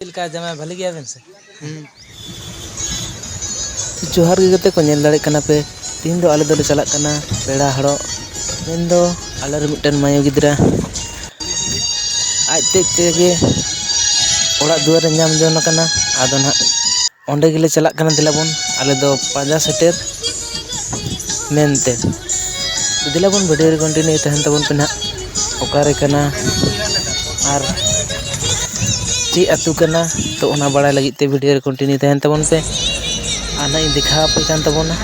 ᱪᱮᱫ ᱞᱮᱠᱟ ᱡᱟᱢᱟᱭ ᱵᱷᱟᱹᱞᱤ ᱜᱮᱭᱟᱵᱮᱱ ᱥᱮ ᱦᱩᱸ ᱡᱚᱦᱟᱨ ᱜᱮ ᱜᱟᱛᱮ ᱠᱚ ᱧᱮᱞ ᱫᱟᱲᱮᱭᱟᱜ ᱠᱟᱱᱟ ᱯᱮ ᱛᱮᱦᱮᱧ ᱫᱚ ᱟᱞᱮ ᱫᱚᱞᱮ ᱪᱟᱞᱟᱜ ᱠᱟᱱᱟ ᱯᱮᱲᱟ ᱦᱚᱲᱚᱜ ᱢᱮᱱᱫᱚ ᱟᱞᱮ ᱨᱮᱱ ᱢᱤᱫᱴᱮᱱ ᱢᱟᱹᱭᱩ ᱜᱤᱫᱽᱨᱟᱹ ᱟᱡ ᱛᱮᱫ ᱛᱮᱜᱮ ᱚᱲᱟᱜ ᱫᱩᱣᱟᱹᱨᱮ ᱧᱟᱢ ᱡᱚᱝ ᱠᱟᱱᱟ ᱟᱫᱚ ᱱᱟᱦᱟᱜ ᱚᱸᱰᱮ ᱜᱮᱞᱮ ᱪᱟᱞᱟᱜ ᱠᱟᱱᱟ ᱫᱮᱞᱟᱵᱚᱱ ᱟᱞᱮ ᱫᱚ ᱯᱟᱸᱡᱟ ᱥᱮᱴᱮᱨ ᱢᱮᱱᱛᱮ ᱫᱮᱞᱟᱵᱚᱱ ᱵᱷᱤᱰᱤᱭᱳ ᱨᱮ ᱠᱚᱱᱴᱤᱱᱤᱭᱩ ᱛᱟᱦᱮᱱ ᱛᱟᱵᱚᱱ ᱯᱮ ᱱᱟᱦᱟᱜ ᱚᱠᱟᱨᱮ ᱠᱟᱱᱟ ᱟᱨ ᱪᱮᱫ ᱟᱹᱛᱩ ᱠᱟᱱᱟ ᱛᱚ ᱚᱱᱟ ᱵᱟᱲᱟᱭ ᱞᱟᱹᱜᱤᱫ ᱛᱮ ᱵᱷᱤᱰᱭᱳ ᱨᱮ ᱠᱚᱱᱴᱤᱱᱤᱭᱩ ᱛᱟᱦᱮᱱ ᱛᱟᱵᱚᱱ ᱯᱮ ᱟᱨ ᱱᱟᱜ ᱤᱧ ᱫᱮᱠᱷᱟᱣ ᱟᱯᱮ ᱠᱟᱱ ᱛᱟᱵᱚᱱᱟ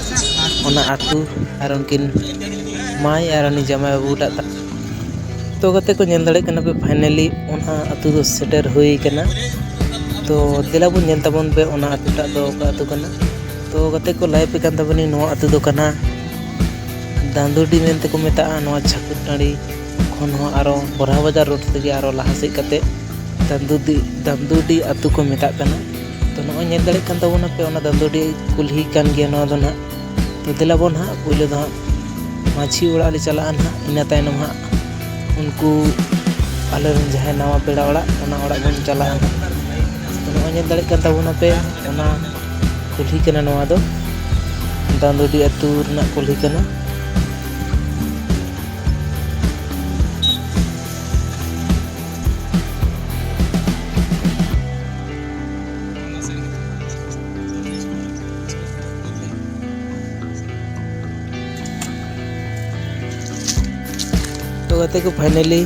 ᱚᱱᱟ ᱟᱹᱛᱩ ᱟᱨ ᱩᱱᱠᱤᱱ ᱢᱟᱹᱭ ᱟᱨ ᱩᱱᱤ ᱡᱟᱶᱟᱭ ᱵᱟᱹᱵᱩ ᱴᱟᱜ ᱛᱚ ᱜᱟᱛᱮ ᱠᱚ ᱧᱮᱞ ᱫᱟᱲᱮᱭᱟᱜ ᱠᱟᱱᱟ ᱯᱮ ᱯᱷᱟᱭᱱᱮᱞᱤ ᱚᱱᱟ ᱟᱹᱛᱩ ᱫᱚ ᱥᱮᱴᱮᱨ ᱦᱩᱭ ᱠᱟᱱᱟ ᱛᱚ ᱫᱮᱞᱟ ᱵᱚᱱ ᱧᱮᱞ ᱛᱟᱵᱚᱱ ᱯᱮ ᱚᱱᱟ ᱟᱹᱛᱩ ᱴᱟᱜ ᱫᱚ ᱚᱠᱟ ᱟᱹᱛᱩ ᱠᱟᱱᱟ ᱛᱚ ᱜᱟᱛᱮ ᱠᱚ ᱞᱟᱹᱭ ᱟᱯᱮ ᱠᱟᱱ ᱛᱟᱵᱚᱱᱤᱧ ᱱᱚᱣᱟ ᱟᱹᱛᱩ ᱫᱚ ᱠᱟᱱᱟ ᱫᱟᱸᱫᱩᱰᱤ ᱢᱮᱱᱛᱮ ᱠᱚ ᱢᱮᱛᱟᱜᱼᱟ ᱱᱚᱣᱟ ᱪᱷᱟᱹᱠᱩᱨ ᱴᱟᱺᱰᱤ ᱠᱷᱚᱱ ᱦᱚᱸ ᱟᱨᱚ ᱵᱚᱨᱦᱟ ᱵᱟᱡᱟᱨ ᱨᱳᱰ ᱛᱮᱜᱮ ᱟᱨᱚ ᱞᱟᱦᱟ ᱥᱮᱫ ᱠᱟᱛᱮ ᱫᱟᱸᱫᱩᱰᱤ ᱫᱟᱸᱫᱩᱰᱤ ᱟᱹᱛᱩ ᱠᱚ ᱢᱮᱛᱟᱜ ᱠᱟᱱᱟ ᱛᱚ ᱱᱚᱜᱼᱚᱭ ᱧᱮᱞ ᱫᱟᱲᱮᱭᱟᱜ ᱠᱟᱱ ᱛᱟᱵᱚᱱᱟ ᱯᱮ ᱚᱱᱟ ᱫᱟᱸᱫᱩᱰᱤ ᱠᱩᱞᱦᱤ ᱠᱟᱱ ᱜᱮᱭᱟ ᱱᱚᱣᱟ ᱫᱚ ᱱᱟᱦᱟᱜ ᱛᱚ ᱫᱮᱞᱟ ᱵᱚᱱ ᱱᱟᱦᱟᱜ ᱯᱳᱭᱞᱳ ᱫᱚ ᱦᱟᱸᱜ ᱢᱟᱹᱡᱷᱤ ᱚᱲᱟᱜ ᱞᱮ ᱪᱟᱞᱟᱜᱼᱟ ᱱᱟᱦᱟᱜ ᱤᱱᱟᱹ ᱛᱟᱭᱱᱚᱢ ᱦᱟᱸᱜ ᱩᱱᱠᱩ ᱟᱞᱮ ᱨᱮᱱ ᱡᱟᱦᱟᱸᱭ ᱱᱟᱣᱟ ᱯᱮᱲᱟ ᱚᱲᱟᱜ ᱚᱱᱟ ᱚᱲᱟᱜ ᱵᱚᱱ ᱪᱟᱞᱟᱜᱼᱟ ᱱᱚᱜᱼᱚᱭ ᱧᱮᱞ ᱫᱟᱲᱮᱭᱟᱜ ᱠᱟᱱ ᱛᱟᱵᱚᱱᱟ ᱯᱮ ᱚᱱᱟ ᱠᱩᱞᱦᱤ ᱠᱟᱱᱟ ᱱᱚᱣᱟ ᱫᱚ ᱰᱟᱸᱫᱩᱰᱤ ᱟᱹᱛᱩ ᱨᱮᱱᱟᱜ ᱠᱩᱞᱦᱤ ᱠᱟᱱᱟ ᱛᱚ ᱜᱟᱛᱮ ᱠᱚ ᱯᱷᱟᱭᱱᱟᱞᱤ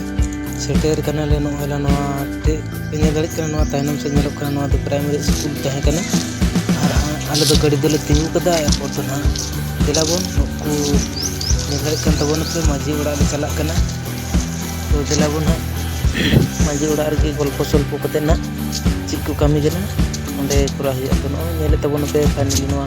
ᱥᱮᱴᱮᱨ ᱠᱟᱱᱟᱞᱮ ᱱᱚᱜᱼᱚᱭ ᱞᱮ ᱱᱚᱣᱟ ᱛᱮ ᱯᱮ ᱧᱮᱞ ᱫᱟᱲᱮᱭᱟᱜ ᱠᱟᱱᱟ ᱱᱚᱣᱟ ᱛᱟᱭᱱᱚᱢ ᱥᱮᱫ ᱧᱮᱞᱚᱜ ᱠᱟᱱᱟ ᱱᱚᱣᱟ ᱫᱚ ᱯᱨᱟᱭᱢᱟᱨᱤ ᱥᱠᱩᱞ ᱛᱟᱦᱮᱸ ᱠᱟᱱᱟ ᱟᱨ ᱟᱞᱮ ᱫᱚ ᱜᱟᱹᱰᱤ ᱫᱚᱞᱮ ᱛᱤᱸᱜᱩ ᱠᱟᱫᱟ ᱮᱨᱯᱚᱨ ᱫᱚ ᱱᱟᱦᱟᱜ ᱫᱮᱞᱟ ᱵᱚᱱ ᱱᱩᱠᱩ ᱧᱮᱞ ᱫᱟᱲᱮᱭᱟᱜ ᱠᱟᱱ ᱛᱟᱵᱚᱱᱟ ᱯᱮ ᱢᱟᱺᱡᱷᱤ ᱚᱲᱟᱜ ᱞᱮ ᱪᱟᱞᱟᱜ ᱠᱟᱱᱟ ᱛᱚ ᱫᱮᱞᱟ ᱵᱚᱱ ᱱᱟᱦᱟᱜ ᱢᱟᱺᱡᱷᱤ ᱚᱲᱟᱜ ᱨᱮᱜᱮ ᱜᱚᱞᱯᱚ ᱥᱚᱞᱯᱚ ᱠᱟᱛᱮᱫ ᱱᱟᱦᱟᱜ ᱪᱮᱫ ᱠᱚ ᱠᱟᱹᱢᱤ ᱠᱟᱱᱟ ᱚᱸᱰᱮ ᱠᱚᱨᱟᱣ ᱦᱩᱭᱩᱜᱼᱟ ᱛᱚ ᱱᱚᱜᱼᱚᱭ ᱧᱮᱞᱮᱫ ᱛᱟᱵᱚᱱᱟᱯᱮ ᱯᱷᱟᱭᱱᱟᱞᱤ ᱱᱚᱣᱟ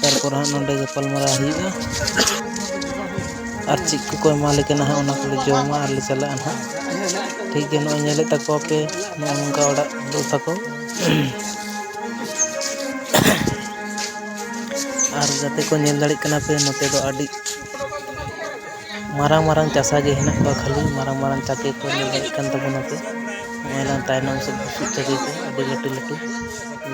ᱛᱟᱨᱯᱚᱨ ᱦᱟᱸᱜ ᱱᱚᱸᱰᱮ ᱜᱟᱯᱟᱞᱢᱟᱨᱟᱣ ᱦᱩᱭᱩᱜᱼᱟ ᱟᱨ ᱪᱮᱫ ᱠᱚᱠᱚ ᱮᱢᱟᱞᱮ ᱠᱟᱱᱟ ᱦᱟᱸᱜ ᱚᱱᱟ ᱠᱚᱞᱮ ᱡᱚᱢᱟ ᱟᱨᱞᱮ ᱪᱟᱞᱟᱜᱼᱟ ᱦᱟᱸᱜ ᱴᱷᱤᱠ ᱜᱮᱭᱟ ᱱᱚᱜᱼᱚᱭ ᱧᱮᱞᱮᱫ ᱛᱟᱠᱚᱣᱟ ᱯᱮ ᱱᱚᱜᱼᱚ ᱱᱚᱝᱠᱟ ᱚᱲᱟᱜ ᱫᱩ ᱛᱟᱠᱚ ᱟᱨ ᱡᱟᱛᱮ ᱠᱚ ᱧᱮᱞ ᱫᱟᱲᱮᱜ ᱠᱟᱱᱟ ᱯᱮ ᱱᱚᱛᱮ ᱫᱚ ᱟᱹᱰᱤ ᱢᱟᱨᱟᱝ ᱢᱟᱨᱟᱝ ᱪᱟᱥᱟ ᱜᱮ ᱦᱮᱱᱟᱜ ᱠᱚᱣᱟ ᱠᱷᱟᱹᱞᱤ ᱢᱟᱨᱟᱝ ᱢᱟᱨᱟᱝ ᱪᱟᱹᱠᱨᱤ ᱠᱚ ᱧᱮᱞ ᱫᱟᱲᱮᱜ ᱠᱟᱱ ᱛᱟᱵᱚᱱᱟ ᱯᱮ ᱱᱚᱜᱼᱚᱭ ᱱᱟ ᱛᱟᱭᱱᱚᱢ ᱥᱮᱫ ᱵᱩᱥᱩᱵ ᱪᱟᱹᱠᱨᱤ ᱠᱚ ᱟᱹᱰᱤ ᱞᱟᱹᱴᱩ ᱞᱟᱹᱴᱩ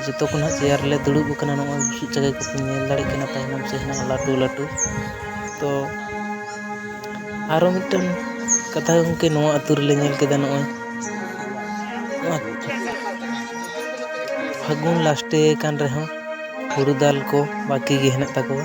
ᱡᱚᱛᱚ ᱠᱷᱚᱱ ᱦᱟᱸᱜ ᱪᱮᱭᱟᱨ ᱨᱮᱞᱮ ᱫᱩᱲᱩᱵ ᱟᱠᱟᱱᱟ ᱱᱚᱜᱼᱚᱭ ᱵᱩᱥᱩᱵ ᱡᱟᱭᱜᱟ ᱠᱚᱯᱮ ᱧᱮᱞ ᱫᱟᱲᱮᱭᱟᱜ ᱠᱟᱱᱟ ᱛᱟᱭᱱᱚᱢ ᱥᱮᱫ ᱦᱮᱱᱟᱜᱼᱟ ᱞᱟᱹᱴᱩ ᱞᱟᱹᱴᱩ ᱛᱚ ᱟᱨᱚ ᱢᱤᱫᱴᱮᱱ ᱠᱟᱛᱷᱟ ᱜᱚᱢᱠᱮ ᱱᱚᱣᱟ ᱟᱹᱛᱩ ᱨᱮᱞᱮ ᱧᱮᱞ ᱠᱮᱫᱟ ᱱᱚᱜᱼᱚᱭ ᱯᱷᱟᱹᱜᱩᱱ ᱞᱟᱥᱴᱮ ᱠᱟᱱ ᱨᱮᱦᱚᱸ ᱦᱩᱲᱩ ᱫᱟᱞ ᱠᱚ ᱵᱟᱹᱠᱤ ᱜᱮ ᱦᱮᱱᱟᱜ ᱛᱟᱠᱚᱣᱟ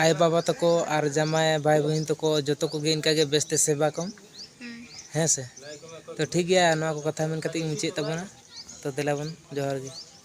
ᱟᱭᱳ ᱵᱟᱵᱟ ᱛᱟᱠᱚ ᱟᱨ ᱡᱟᱢᱟᱭ ᱵᱟᱭ ᱵᱩᱦᱤᱱ ᱛᱟᱠᱚ ᱡᱚᱛᱚ ᱠᱚᱜᱮ ᱤᱱᱠᱟ ᱜᱮ ᱵᱮᱥ ᱛᱮ ᱥᱮᱵᱟ ᱠᱚᱢ ᱦᱩᱸ ᱦᱮᱸ ᱥᱮ ᱛᱚ ᱴᱷᱤᱠ ᱜᱮᱭᱟ ᱱᱚᱣᱟ ᱠᱚ ᱠᱟᱛᱷᱟ ᱢᱮᱱ ᱠᱟᱛᱮ ᱜᱮᱧ ᱢᱩᱪᱟᱹᱫ ᱛᱟᱵᱚᱱᱟ ᱛᱚ ᱫᱮᱞᱟ ᱵᱚᱱ ᱡᱚᱦᱟᱨ ᱜᱮ